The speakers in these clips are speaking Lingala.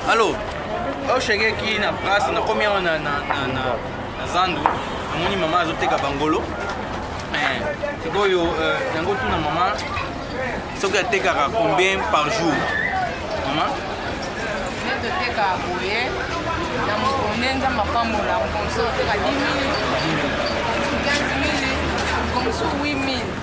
Allô Au chèque qui na brasse na combien on a na na na zandu amoni maman azoteka bangolo eh, sikoyo euh, yango tuna maman soki atekaka combien par jour maman toteka boye na mokonde nzambe apambola mokonso oteka 10 000 15 000 mokonso 8 000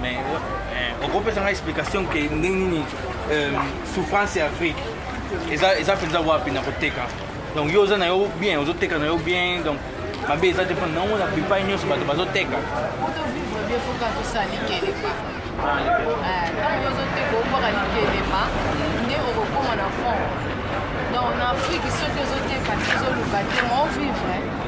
Mais euh, okopesa ngai explication ke ndenge nini euh, souffrance ya afrique eza eza mpenza wapi na koteka donc yo oza na yo bien ozoteka na yo bien donc mabe eza te mpona nango na bipai nyonso bato bazoteka otovivre bien foka tosala likelema ntango yo ozoteka okoka likelema nde okokoma na fond donc na afrique soki ozoteka te ozoluka te ma ovivre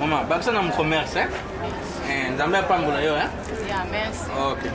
Mama, bakisa na mcommerce, eh? eh nzambe apambola yo, eh? Yeah, merci. Okay.